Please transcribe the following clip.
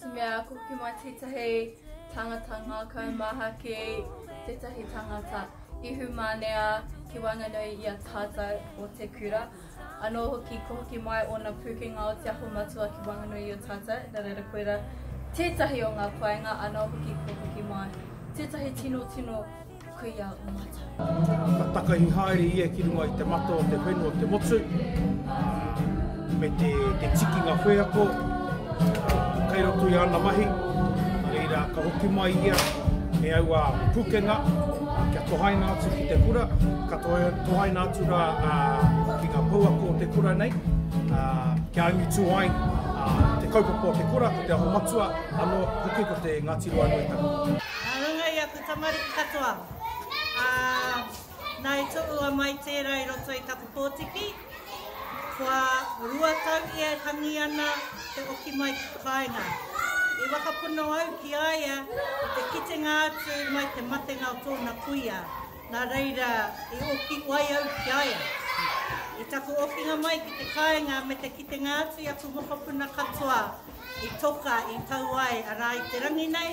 Te mea ako ki mai tētahi tangata ngākau maha ki tētahi tangata ihu mānea ki waenganui i a tātou o te kura. Anō hoki ko hoki mai ōna pūkenga o te aho matua ki waenganui i a tātou, nā reira koira tētahi o ngā painga anō hoki ko hoki mai. Tētahi tino tino Kuia o matou. Ka takahi haere ia ki runga i te mata o te whenu o te motu, me te tikinga wheako kei roto i ana mahi, nā reira ka hoki mai ia e aua pukenga kia tohaina atu ki te kura, ka tohaina atu ra ki nga pouako o te kura nei, kia angitu ai te kaupapa o te kura, ko te aho matua, ano hoki ko te Ngati Ruanuitanga. Tamariki katoa, ā, nā e toru a Mai tērā i roto i taku pōtiki, kua rua tau ia e tangi ana te oki mai ki te kāinga. I whakapono au ki a ia i te kitenga atu mai te matenga o tōna kuia, nā reira i oki wai au ki a ia. I taku okinga mai ki te kāinga me te kitenga atu i aku mokopuna katoa i toka i tau ai a rā i te rangi nei,